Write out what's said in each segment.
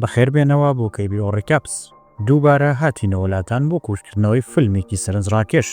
بەخێر بێنەوە بۆ کەیبیۆ ڕیکاپس. دووبارە هاتینەوە لاتان بۆ کورتکردنەوەی فیلمێکی سەرنجڕاکێش.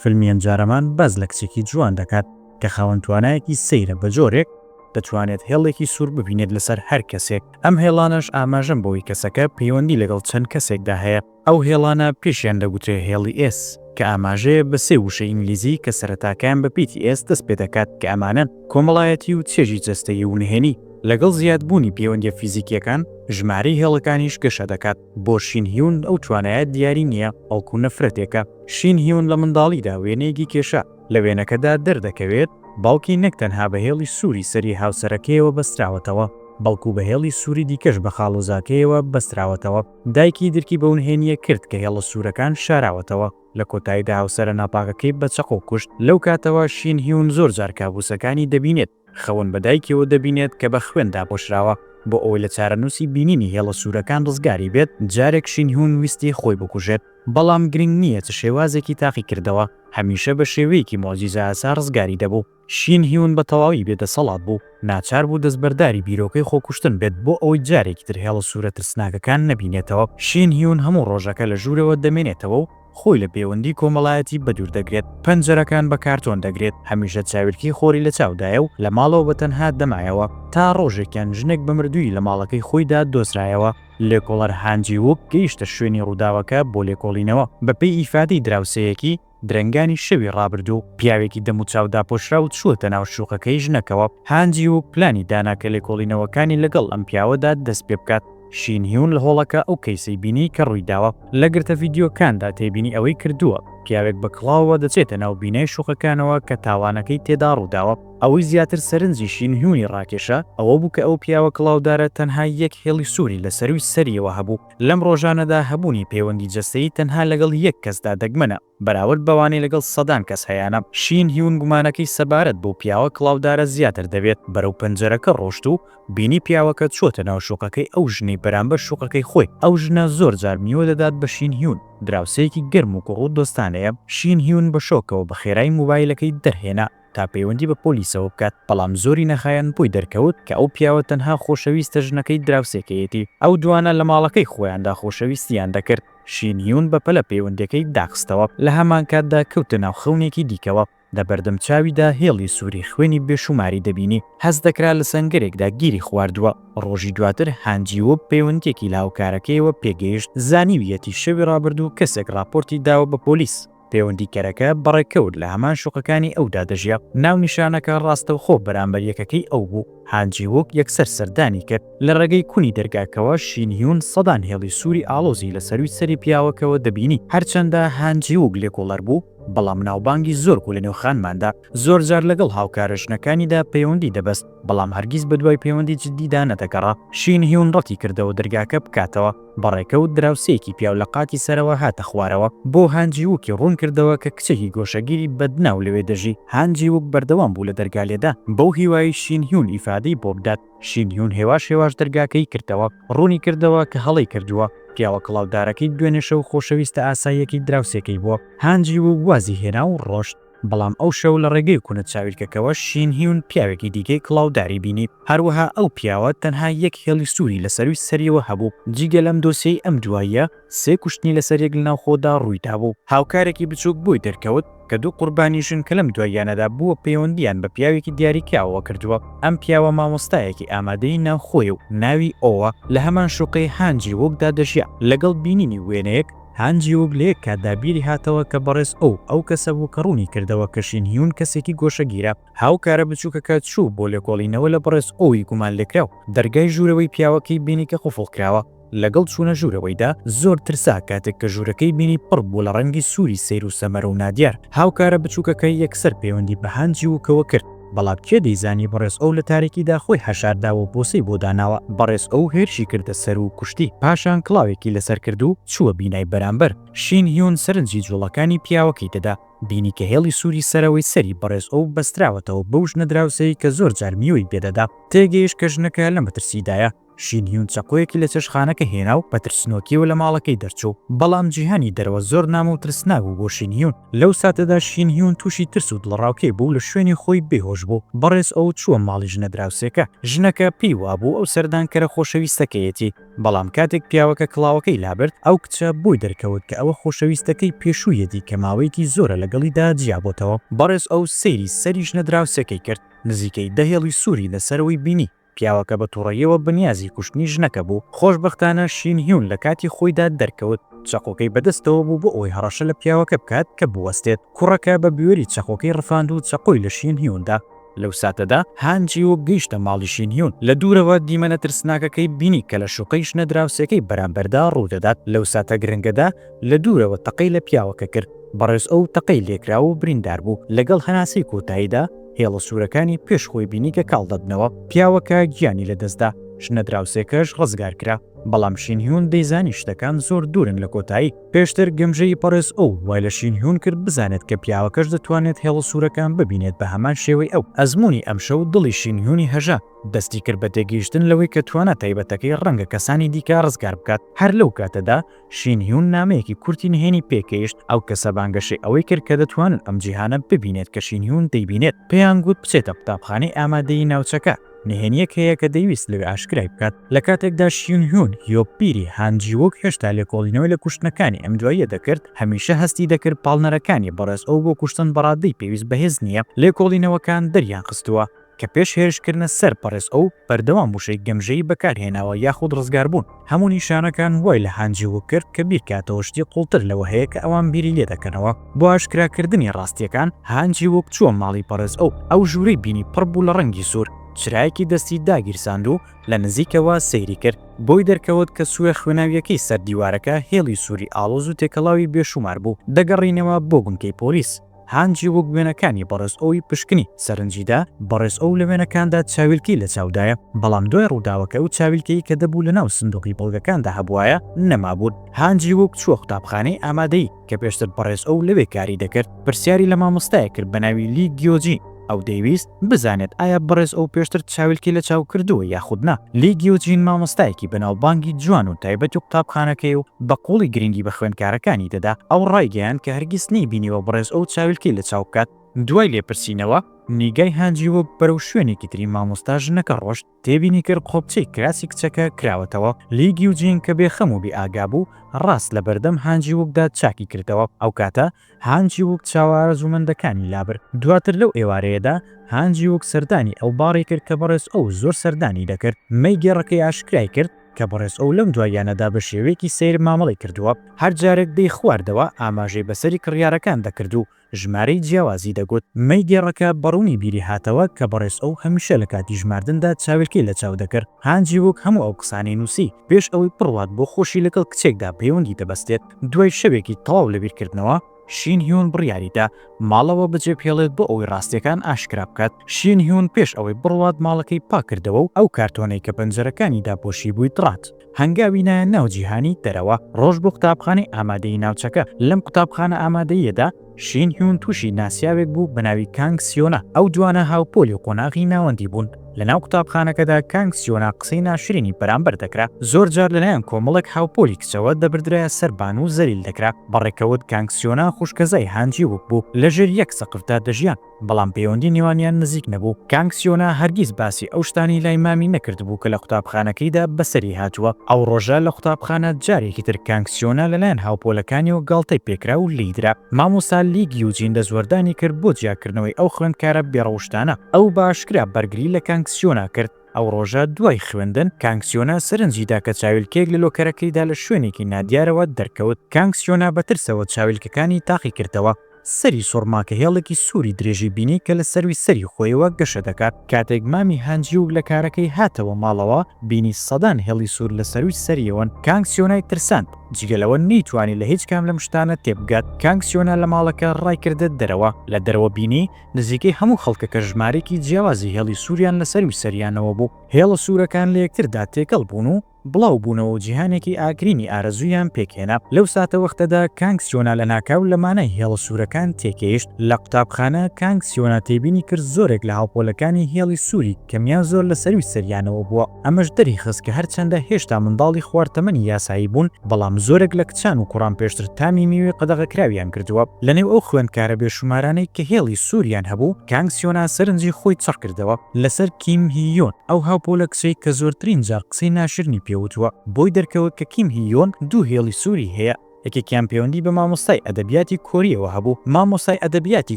فیلمی ئەمجارەمان باس لە کچێکی جوان دەکات کە خاوەن توانایەکی سەیرە بە جۆرێک، دەتوانێت هێڵێکی سوور ببینێت لەسەر هەر کەسێک، ئەم هێڵانەش ئاماژەن بەوەی کەسەکە پەیوەندی لەگەڵ چەند کەسێکدا هەیە. ئەو هێڵانە پێشیان دەگوترێ هێڵی ئێس، کە ئاماژەیە بە سێ وشەی ئینگلیزی کە سەرەتاکەیان بە پیتی ئێس دەست پێ دەکات کە ئەمانەن، کۆمەڵایەتی و چێژی جەستەیی و نهێنی. لەگەڵ زیادبوونی پێوەندییە فیزیکییەکان، ژمارەی هێڵەکانیش گەشە دەکات. بۆ شین هیون ئەو توانایە دیاری نییە، بەڵکو نەفرەتێکە. شین هیون لە منداڵیدا وێنەیەکی کێشا. لە وێنەکەدا دەردەکەوێت باوکی نەک تەنها بە هێڵی سووری سەری هاوسەرەکەیەوە بەستراوەتەوە، بەڵکو بە هێڵی سووری دیکەش بە خاڵۆزاکەیەوە بەستراوەتەوە. دایکی درکی بەو نهێنییە کرد کە هێڵە سوورەکان شاراوەتەوە، لە کۆتاییدا هاوسەرە ناپاکەکەی بە چەقۆ کوشت، لەو کاتەوە شین هیون زۆر جار کابوسەکانی دەبینێت، خەون بە دایکیەوە دەبینێت کە بە خوێن داپۆشراوە، بۆ ئەوەی لە چارەنووسی بینینی هێڵە سوورەکان ڕزگاری بێت، جارێک شین هیون ویستی خۆی بکوژێت، بەڵام گرنگ نییە چ شێوازێکی تاقیکردەوە، هەمیشە بە شێوەیەکی موعجیزەئاسا ڕزگاری دەبوو. شین هیون بە تەواوی بێ دەسەڵات بوو، ناچار بوو دەستبەرداری بیرۆکەی خۆکوشتن بێت بۆ ئەوەی جارێکی تر هێڵە سوورە ترسناکەکان نەبینێتەوە. شین هیون هەموو ڕۆژەکە لە ژوورەوە دەمێنێتەوە و خۆی لە پێوەندی کۆمەڵایەتی بەدوور دەگرێت، پەنجەرەکان بە کارتۆن دەگرێت، هەمیشە چاویلکەی خۆری لە چاودایە و لە ماڵەوە بە تەنها دەمایەوە. تا ڕۆژێکیان ژنێک بە مردوویی لە ماڵەکەی خۆیدا دۆزرایەوە. لێکۆڵەر هان جی ووک گەیشتە شوێنی ڕووداوەکە بۆ لێکۆڵینەوە، بەپێی ئیفادەی دراوسێیەکی، درەنگانی شەوی ڕابردوو پیاوێکی دەموچاو داپۆشراو چووەتە ناو شوقەکەی ژنەکەوە، هان جی وو پلانی دانا کە لێکۆڵینەوەکانی لەگەڵ ئەم پیاوەدا دەست پێ بکات. شین هیون لە هۆڵەکە ئەو کەیسەی بینی کە ڕوویداوە. لە گرتە ڤیدیۆکاندا تێبینی ئەوەی کردووە پیاوێک بە کڵاوەوە دەچێتە ناو بینای شوقەکانەوە کە تاوانەکەی تێدا ڕووداوە. ئەوەی زیاتر سەرنجی شین هیونی ڕاکێشا ئەوە بوو کە ئەو پیاوە کڵاودارە تەنها یەک هێڵی سووری لە سەرووی سەریەوە هەبوو. لەم ڕۆژانەدا هەبوونی پەیوەندی جەستەیی تەنها لەگەڵ یەک کەسدا دەگمەنە، بەراورد بەوانەی لەگەڵ سەدان کەس هەیانە. شین هیون گومانەکەی سەبارەت بەو پیاوە کڵاودارە زیاتر دەبێت، بەرەو پەنجەرەکە ڕۆشت و بینی پیاوەکە چووەتە ناو شوقەکەی ئەو ژنەی بەرامبەر شوقەکەی خۆی. ئەو ژنە زۆر جار میوە دەدات بە شین هیون، دراوسێیەکی گەرم و گوڕ و دۆستانەیە. شین هیون بە شۆکەوە بە خێرایی موبایلەکەی دەرهێنا. تا پەیوەندی بە پۆلیسەوە بکات، بەڵام زۆری نەخایاند بۆی دەرکەوت کە ئەو پیاوە تەنها خۆشەویستە ژنەکەی دراوسێکەیەتی، ئەو دوانە لە ماڵەکەی خۆیاندا خۆشەویستییان دەکرد، شین هیون بە پەلە پەیوەندیەکەی داخستەوە، لە هەمانکاتدا کەوتە ناو خەونێکی دیکەوە، لە بەردەم چاویدا هێڵی سوری خوێنی بێشوماری دەبینی، هەست دەکرا لە سەنگەرێکدا گیری خواردووە، ڕۆژی دواتر هان جی ووب پەیوەندیەکی لە هاوکارەکەیەوە پێگەیشت زانیویەتی شەوی ڕابردوو کەسێک ڕاپۆرتی داوە بە پۆلیس، پێوەندیکەرەکە بە ڕێکەوت لە هەمان شوقەکانی ئەودا دەژیا. ناونیشانەکە ڕاستەوخۆ بەرامبەر یەکەکەی ئەو بوو. هان جی ووک یەکسەر سەردانی کرد. لە ڕێگەی کونی دەرگاکەوە شین هیون سەدان هێڵی سووری ئاڵۆزی لە سەرووی سەری پیاوەکەوە دەبینی. هەرچەندە هان جی ووک لێکۆڵەر بوو، بەڵام ناوبانگی زۆر بوو لە نێو خانماندا. زۆرجار لەگەڵ هاوکارە ژنەکانیدا پەیوەندی دەبەست، بەڵام هەرگیز بەدوای پەیوەندی جددیدا نەدەگەڕا. شین هیون ڕەتی کردەوە دەرگاکە بکاتەوە. بەڕێکە و دراوسێیەکی پیاو لە قاتی سەرەوە هاتە خوارەوە بۆ هان جی ووکی ڕوون کردەوە کە کچێکی گۆشەگیری بەدناو لەوێ دەژی هان جی ووک بەردەوام بوو لە دەرگا لێدا بەو هیوایەی شین هیون ئیفادەی بۆ بدات شین هیون هێواش هێواش دەرگاکەی کردەوە ڕوونی کردەوە کە هەڵەی کردووە پیاوە کڵاودارەکەی دوێنێ شەو خۆشەویستە ئاساییەکەی دراوسێکەی بووە هان جی ووک وازی هێنا و ڕۆشت. بەڵام ئەو شەو لە ڕێگەی کونە چاویلکەکەوە شین هیون پیاوێکی دیکەی کڵاوداری بینی، هەروەها ئەو پیاوە تەنها یەک هێڵی سووری لە سەرووی سەریەوە هەبوو، جیگە لەم دۆسیەی ئەم دواییە سێ کوشتنی لەسەر یەک لەناوخۆدا ڕوویدابوو، هاوکارێکی بچووک بۆی دەرکەوت کە دوو قوربانی ژن کە لەم دواییانەدا بووە پەیوەندییان بە پیاوێکی دیاریکراوەوە کردووە، ئەم پیاوە مامۆستایەکی ئامادەیی ناوخۆیە و ناوی ئۆوە، لە هەمان شوقەی هان جی ووکدا دەژیا، لەگەڵ بینینی وێنەیەک، هان جیوگ لە یەک کاتدا بیری هاتەوە کە بەڕێز ئۆو ئەو کەسە بوو کە ڕوونی کردەوە کە شین هیون کەسێکی گۆشەگیرە. هاوکارە بچووکەکە چوو بۆ لێکۆڵینەوە لە بەڕێز ئۆوی گومانلێکراو، دەرگای ژوورەوەی پیاوەکەی بینی کە قوفڵ کراوە. لەگەڵ چوونە ژوورەوەیدا، زۆر ترسا کاتێک کە ژوورەکەی بینی پڕ بوو لە ڕەنگی سووری سەیر و سەمەرە و نادیار. هاوکارە بچووکەکە یەکسەر پەیوەندی بە هان جیوگەوە کرد. بەڵام کێ دەیزانی بەڕێز ئۆو لە تاریکیدا خۆی حەشارداوە و بۆسەی بۆ داناوە. بەڕێز ئۆو هێرشی کردە سەر و کوشتی، پاشان کڵاوێکی لەسەر کرد و چووە بینای بەرامبەر. شین هیون سەرنجی جووڵەکانی پیاوەکەی دەدا، بینی کە هێڵی سووری سەرەوەی سەری بەڕێز ئۆو بەستراوەتەوە بەو ژنە دراوسێی کە زۆر جار میوەی پێ دەدا. تێگەیشت کە ژنەکە لە مەترسیدایە. شین هیون چەقۆیەکی لە چێشتخانەکە هێنا و بە ترسنۆکییەوە لە ماڵەکەی دەرچوو. بەڵام جیهانی دەرەوە زۆر نامۆ و ترسناک بوو بۆ شین هیون. لەو ساتەدا شین هیون تووشی ترس و دڵەڕاوکێ بوو و لە شوێنی خۆی بێ هۆش بوو. بەڕێز ئۆو چووە ماڵی ژنە دراوسێکە. ژنەکە پێی وابوو ئەو سەردانکەرە خۆشەویستەکەیەتی. بەڵام کاتێک پیاوەکە کڵاوەکەی لابرد، ئەو کچە بۆی دەرکەوت کە ئەوە خۆشەویستەکەی پێشوویەتی کە ماوەیەکی زۆرە لەگەڵیدا جیابۆتەوە. بەڕێز ئۆو سەیری سەری ژنە دراوسێکەی کرد. نزیکەی دە هێڵی سووری لەسەرەوەی بینی. پیاوەکە بە توڕەییەوە بەنیازی کوشتنی ژنەکە بوو، خۆشبەختانە شین هیون لە کاتی خۆیدا دەرکەوت، چەقۆکەی بەدەستەوە بوو بۆ ئەوەی هەڕەشە لە پیاوەکە بکات کە بوەستێت، کوڕەکە بە بوێری چەقۆکەی ڕفاند و چەقۆی لە شین هیون دا. لەو ساتەدا هان جی ووک گەیشتە ماڵی شین هیون، لە دوورەوە دیمەنە ترسناکەکەی بینی کە لە شوقەی ژنە دراوسێکەی بەرامبەردا ڕوودەدات، لەو ساتە گرنگەدا لە دوورەوە تەقەی لە پیاوەکە کرد، بەڕێز ئۆو تەقەی لێکرا و بریندار بوو، لەگەڵ هەناسەی کۆتاییدا، هێڵە سوورەکانی پێش خۆی بینی کە کاڵ دەبنەوە، پیاوەکە گیانی لەدەستدا، ژنە دراوسێکەش ڕزگار کرا، بەڵام شین هیون دەیزانی شتەکان زۆر دوورن لە کۆتایی. پێشتر گەمژەیی پەڕێز ئۆو وای لە شین هیون کرد بزانێت کە پیاوەکەش دەتوانێت هێڵە سوورەکان ببینێت بە هەمان شێوەی ئەو. ئەزموونی ئەمشەو دڵی شین هیونی هەژا، دەستی کرد بە تێگەیشتن لەوەی کە توانا تایبەتەکەی ڕەنگە کەسانی دیکە ڕزگار بکات، هەر لەو کاتەدا، شین هیون نامەیەکی کورتی نهێنی پێکەیشت، ئەو کەسە بانگەشەی ئەوەی کرد کە دەتوانن ئەم جیهانە ببینێت کە شین هیون دەیبینێت، پێیان گوت بچێتە قوتابخانەی ئامادەیی ناوچەکە، نهێنییەک هەیە کە دەیویست لەوێ ئاشکرای بکات. لە کاتێکدا شین هیون هیۆ پیری هان جی ووک هێشتا لێکۆڵینەوەی لە کوشتنەکانی ئەم دواییە دەکرد، هەمیشە هەستی دەکرد پاڵنەرەکانی بەڕێز ئۆو بۆ کوشتن بەڕادەی پێویست بەهێز نییە، لێکۆڵینەوەکان دەریانخستووە. کە پێش هێرشکردنە سەر پەڕێز ئەو بەردەوام وشەی گەمژەیی بەکارهێناوە یاخود ڕزگاربوون، هەموو نیشانەکان وای لە هان جی ووک کرد کە بیرکاتەوە شتی قوڵتر لەوە هەیە کە ئەوان بیری لێدەکەنەوە، بۆ ئاشکراکردنی ڕاستییەکان هان جی ووک چووە ماڵی پەڕێز ئەو، ئەو ژوورەی بینی پڕ بوو لە ڕەنگی سوور، چرایەکی دەستی داگیرساند و لە نزیکەوە سەیری کرد، بۆی دەرکەوت کە سووێ خوێناوییەکەی سەر دیوارەکە هێڵی سووری ئاڵۆز و تێکەڵاوی بێشوومار بوو، دەگەڕینەوە بۆ بنکەی پۆلیس. هان جی ووک وێنەکانی بەڕێز ئۆوی پشکنی سەرنجی دا، بەڕێز ئۆو لە وێنەکاندا چاویلکەی لە چاودایە، بەڵام دوای ڕووداوەکە ئەو چاویلکەی کە دەبوو لە ناو سندوقی بەڵگەکاندا هەبوایە نەمابوون. هان جی ووک چووە قوتابخانەی ئامادەیی کە پێشتر بەڕێز ئۆو لەوێ کاری دەکرد، پرسیاری لە مامۆستایەک کرد بە ناوی لی گیۆ جین، ئەو دەیویست بزانێت ئایا بەڕێز ئۆو پێشتر چاویلکەی لە چاو کردووە یاخود نا. لی گیو جین مامۆستایەکی بەناوبانگی جوان و تایبەتی قوتابخانەکەیە و بە قووڵی گرنگی بە خوێندکارەکانی دەدا. ئەو ڕایگەیاند کە هەرگیز نەیبینیوە بەڕێز ئۆو چاویلکەی لە چاو بکات. دوای لێپرسینەوە، نیگای هانجی وۆک بەرەو شوێنێکی تری مامۆستا ژنەکە ڕۆشت. تێبینی کرد قۆپچەی کراسی کچەکە کراوەتەوە لی گیو جینگ کە بێ خەم و بێ ئاگا بوو ڕاست لە بەردەم هان جی ووک دا چاکی کردەوە ئەو کاتە هان جی ووک چاوە ئارەزوومەندەکانی لابرد دواتر لەو ئێوارەیەدا هان جی ووک سەردانی ئەو باڕی کرد کە بەڕێز ئۆو زۆر سەردانی دەکرد مەی گێڕەکەی ئاشکرای کرد کە بەڕێز ئۆو لەم دواییانەدا بە شێوەیەکی سەیر مامەڵەی کردووە هەر جارێک دەی خواردەوە ئاماژەی بە سەری کڕیارەکان دەکرد و ژمارەی جیاوازی دەگوت. مەی گێڕەکە بە ڕوونی بیری هاتەوە کە بەڕێز ئۆو هەمیشە لە کاتی ژماردندا چاویلکەی لە چاو دەکرد. هان جی ووک هەموو ئەو قسانەی نووسی پێش ئەوەی بڕوات بۆ خۆشی لەگەڵ کچێکدا پەیوەندی دەبەستێت. دوای شەوێکی تەواو لە بیرکردنەوە، شین هیون بڕیاری دا ماڵەوە بەجێبهێڵێت بۆ ئەوەی ڕاستییەکان ئاشکرا بکات. شین هیون پێش ئەوەی بڕوات ماڵەکەی پاک کردەوە و ئەو کارتۆنەی کە پەنجەرەکانی داپۆشیبووی دڕات. هەنگاوی نایە ناو جیهانی دەرەوە، ڕۆژ بۆ قوتابخانەی ئامادەیی ناوچەکە. لەم قوتابخانە ئامادەییەدا، شین هیون تووشی ناسیاوێک بوو بە ناوی کانگ سیۆنا. ئەو دوانە هاوپۆلی و قۆناغی ناوەندی بوون. لە ناو قوتابخانەکەدا کانگ سیۆنا قسەی ناشرینی بەرامبەر دەکرا. زۆر جار لەلایەن کۆمەڵێک هاوپۆلی کچەوە دەبردرایە سەر بان و زەلیل دەکرا. بە ڕێکەوت کانگ سیۆنا خوشکەزای هان جی ووک بوو. لەژێر یەک سەقفدا دەژیان. بەڵام پەیوەندی نێوانیان نزیک نەبوو، کانگ سیۆنا هەرگیز باسی ئەو شتانەی لای مامی نەکردبوو کە لە قوتابخانەکەیدا بەسەری هاتووە، ئەو ڕۆژە لە قوتابخانە جارێکی تر کانگ سیۆنا لەلایەن هاوپۆلەکانیەوە گاڵتەی پێکرا و لێیدرا، مامۆستا لی گیوجین دەستوەردانی کرد بۆ جیاکردنەوەی ئەو خوێندکارە بێڕەوشتانە، ئەو بە ئاشکرا بەرگری لە کانگ سیۆنا کرد، ئەو ڕۆژە دوای خوێندن کانگ سیۆنا سەرنجی دا کە چاویلکەیەک لە لۆکەرەکەیدا لە شوێنێکی نادیارەوە دەرکەوت، کانگ سیۆنا بە ترسەوە چاویلکەکانی تاقیکردەوە، سەری سوڕما کە هێڵێکی سووری درێژی بینی کە لە سەرووی سەری خۆیەوە گەشە دەکات. کاتێک مامی هانجیووک لە کارەکەی هاتەوە ماڵەوە، بینی سەدان هێڵی سوور لە سەرووی سەریەوەن. کانگ سیۆنای ترساند. جگە لەوە نەیتوانی لە هیچ کام لەم شتانە تێبگات. کانگ سیۆنا لە ماڵەکە ڕایکردە دەرەوە. لە دەرەوە بینی نزیکەی هەموو خەڵکەکە ژمارەیەکی جیاوازی هێڵی سووریان لە سەرووی سەریانەوە بوو. هێڵە سوورەکان لە یەکتردا تێکەڵ بوون و بڵاو بوونەوەو جیهانێکی ئاگرینی ئارەزوویان پێکهێنا. لەو ساتەوەختەدا کانگ سیۆنا لە ناکاو لە مانای هێڵە سوورەکان تێکەیشت. لە قوتابخانە، کانگ سیۆنا تێبینی کرد زۆرێک لە هاوپۆلەکانی هێڵی سووری کەمیان زۆر لە سەرووی سەریانەوە بووە. ئەمەش دەریخست کە هەرچەندە هێشتا منداڵی خوار تەمەنی یاسایی بوون، بەڵام زۆرێک لە کچان و کوڕان پێشتر تامی میوەی قەدەغەکراویان کردووە. لەنێو ئەو خوێندکارە بێشومارانەی کە هێڵی سووریان هەبوو، کانگ سیۆنا سەرنجی خۆی چڕ کردەوە. لەسەر کیم هی یۆن، ئەو هاوپۆلە کچەی کە زۆرترین جار قسەی ناشرنی پێ وتووە، بۆی دەرکەوت کە کیم هی یۆن دوو هێڵی سووری هەیە، یەکێکیان پەیوەندی بە مامۆستای ئەدەبیاتی کۆرییەوە هەبوو، مامۆستای ئەدەبیاتی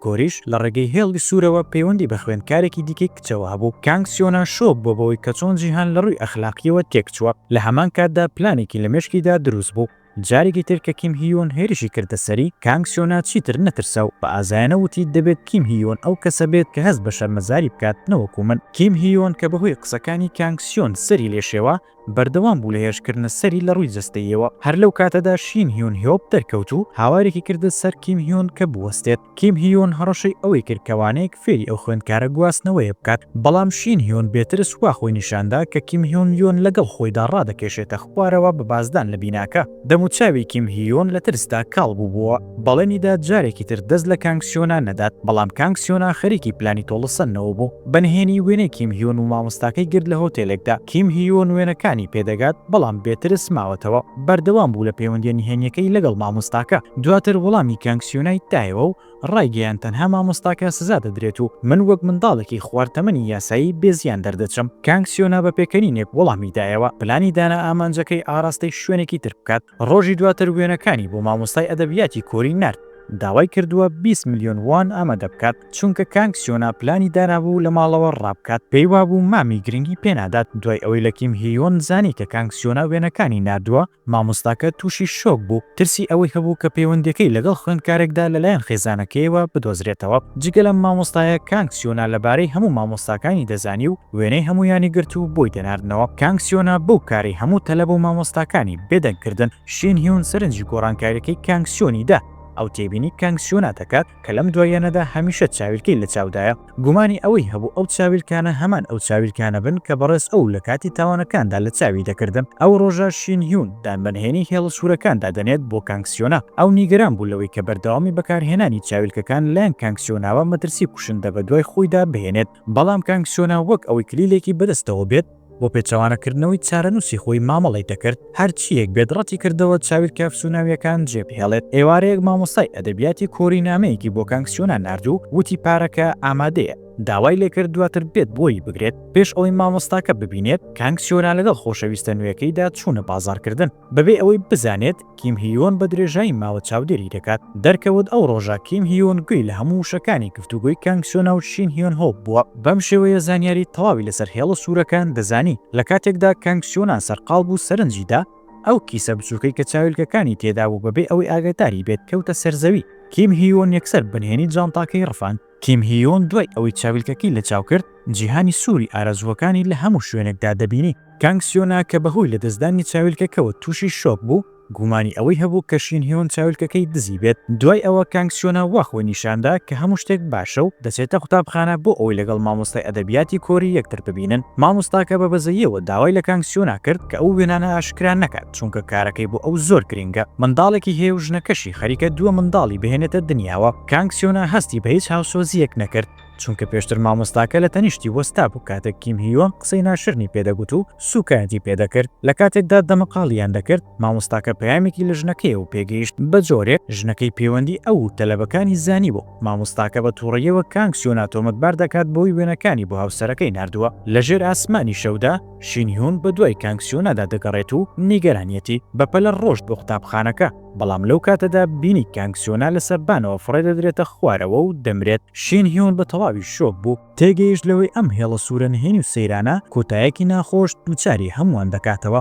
کۆریش لە ڕێگەی هێڵی سوورەوە پەیوەندی بە خوێندکارێکی دیکەی کچەوە هەبوو. کانگ سیۆنا شۆک بووە بەوەی کە چۆن جیهان لە ڕووی ئەخلاقییەوە تێکچووە، لە هەمان کاتدا پلانێکی لە مێشکیدا دروست بوو. جارێکی تر کە کیم هیون هێرشی کردە سەری، کانگ سیۆنا چیتر نەترسا و بە ئازایانە وتی، دەبێت کیم هیون ئەو کەسە بێت کە هەست بە شەرمەزاری بکات، نەوەکو من. کیم هیون کە بەهۆی قسەکانی کانگ سیۆن سەری لێ شێوا، بەردەوام بوو لە هێرشکردنە سەری لە ڕووی جەستەییەوە. هەر لەو کاتەدا شین هیون هیۆپ دەرکەوت و هاوارێکی کردە سەر کیم هیون کە بوەستێت. کیم هیون هەڕەشەی ئەوەی کرد کە وانەیەک فێری ئەو خوێندکارە گواستنەوەیە بکات، بەڵام شین هیون بێ ترس وا خۆی نیشان دا کە کیم هیون یۆن لەگەڵ خۆیدا ڕادەکێشێتە خوارەوە بە بازدان لە بیناکە. دەموچاوی کیم هیون لە ترسدا کاڵ بووبووە. بەڵێنی دا جارێکی تر دەست لە کانگ سیۆنا نەدات، بەڵام کانگ سیۆنا خەریکی پلانی تۆڵەسەندنەوە بوو. بە نهێنی وێنەی کیم هیون و مامۆستاکەی گرت لە هۆتێلێکدا. کیم هیون وێنەکانی پێ دەگات، بەڵام بێ ترس ماوەتەوە. بەردەوام بوو لە پەیوەندییە نهێنییەکەی لەگەڵ مامۆستاکە، دواتر وەڵامی کانگ سیونایت دایەوە و ڕایگەیاند تەنها مامۆستاکە سزا دەدرێت و من وەک منداڵێکی خوار تەمەنی یاسایی بێ زیان دەردەچم. کانگ سیونا بە پێکەنینێک وەڵامی دایەوە، پلانی دانا ئامانجەکەی ئاراستەی شوێنێکی تر بکات. ڕۆژی دواتر وێنەکانی بۆ مامۆستای ئەدەبیاتی کۆری نارد، داوای کردووە بیست ملیۆن وان ئامادە بکات. چونکە کانگ سیۆنا پلانی دانابوو لە ماڵەوە ڕابکات، پێی وابوو مامی گرنگی پێنادات، دوای ئەوەی لە کیم هییۆن زانی کە کانگ سیۆنا وێنەکانی ناردووە، مامۆستاکە تووشی شۆک بوو، ترسی ئەوەی هەبوو کە پەیوەندییەکەی لەگەڵ خوێندکارێکدا لەلایەن خێزانەکەیەوە بدۆزرێتەوە، جگە لەم مامۆستایە کانگ سیۆنا لەبارەی هەموو مامۆستاکانی دەزانی و وێنەی هەموویانی گرت و بۆی دەناردنەوە، کانگ سیۆنا بەو کارەی هەموو تەلەبە و مامۆستاکانی بێدەنگ کردن، شین هیون سەرنجی گۆڕانکارییەکەی کانگ سیۆنی دا، ئەو تێبینی کانگ سیۆنا دەکات، کە لەم دواییانەدا هەمیشە چاویلکەی لە چاودایە، گومانی ئەوەی هەبوو ئەو چاویلکانە هەمان ئەو چاویلکانە بن کە بەڕێز ئۆو لە کاتی تاوانەکاندا لە چاوی دەکردن. ئەو ڕۆژە شین هیون دان بە نهێنی هێڵە سوورەکاندا دەنێت بۆ کانگ سیۆنا. ئەو نیگەران بوو لەوەی کە بەردەوامی بەکارهێنانی چاویلکەکان لایەن کانگ سیۆناوە مەترسی کوشندە بەدوای خۆیدا بهێنێت. بەڵام کانگ سۆنا وەک ئەوەی کلیلێکی بەدەستەوە بێت بۆ پێچەوانەکردنەوەی چارەنووسی خۆی مامەڵەی دەکرد، هەرچییەک بێت ڕەتی کردەوە چاویلکە ئەفسوناوییەکان جێبهێڵێت، ئێوارەیەک مامۆستای ئەدەبیاتی کۆری نامەیەکی بۆ کانگ سۆنا نارد و وتی پارەکە ئامادەیە، داوای لێکرد دواتر بێت بۆی بگرێت، پێش ئەوەی مامۆستاکە ببینێت، کانگ سۆنا لەگەڵ خۆشەویستە نوێکەیدا چوونە بازاڕکردن. بەبێ ئەوەی بزانێت کیم هیۆن بە درێژایی ماوە چاودێری دەکات. دەرکەوت ئەو ڕۆژە کیم هیۆن گوێی لە هەموو وشەکانی گفتوگۆی کانگ سۆنا و شین هیۆن هۆ بووە. بەم شێوەیە زانیاری تەواوی لەسەر هێڵە سوورەکان دەزانی. لە کاتێکدا کانگ سۆنا سەرقاڵ بوو سەرنجی دا ئەو کیسە بچووکەی کە چاویلکەکانی تێدابوو بەبێ ئەوەی ئاگەداری بێت کەوتە سەر زەوی. کیم هیۆن یەکسەر بنهێنی جانتاکەی ڕفاند. کیم هیون دوای ئەوەی چاویلکەکەی لەچاو کرد، جیهانی سووری ئارەزووەکانی لە هەموو شوێنێکدا دەبینی. کانگ سیۆنا کە بەهۆی لەدەستدانی چاویلکەکەوە تووشی شۆک بوو، گومانی ئەوەی هەبوو کە شین هیون چاویلکەکەی دزیبێت. دوای ئەوە کانگ سیۆنا وا خۆی نیشاندا کە هەموو شتێک باشە و دەچێتە قوتابخانە بۆ ئەوەی لەگەڵ مامۆستای ئەدەبیاتی کۆری یەکتر ببینن. مامۆستاکە بە بەزەییەوە داوای لە کانگ سیۆنا کرد کە ئەو وێنانە ئاشکرا نەکات چونکە کارەکەی بۆ ئەو زۆر گرنگە. منداڵێکی هەیە و ژنەکەشی خەریکە دووە منداڵی بهێنێتە دنیاوە. کانگ سیۆنا هەستی بە هیچ هاوسۆزییەک نەکرد، چونکە پێشتر مامۆستاکە لە تەنیشتی وەستابوو کاتێک کیم هیۆن قسەی ناشرنی پێ دەگوت و سووکایەتی پێ دەکرد. لە کاتێکدا دەمەقاڵییان دەکرد، مامۆستاکە پەیامێکی لە ژنەکەیەوە پێ گەیشت، بە جۆرێک ژنەکەی پێوەندی ئەو و تەلەبەکانی زانیبوو. مامۆستاکە بە تووڕەییەوە کانگ سیۆنا تۆمەتبار دەکات بەوەی وێنەکانی بۆ هاوسەرەکەی ناردووە. لە ژێر ئاسمانی شەودا، شین هیون بە دوای کانگ سیۆنادا دەگەڕێت و نیگەرانیەتی، بەپەلە ڕۆشت بۆ قوتابخانەکە. بەڵام لەو کاتەدا بینی کانگ سۆنا لە سەربانەوە فڕێ دەدرێتە خوارەوە و دەمرێت، شین هیون بە تەواوی شۆک بوو، تێگەیشت لەوەی ئەم هێڵە سوورە نهێنی و سەیرانە کۆتایەکی ناخۆش دووچاری هەمووان دەکاتەوە.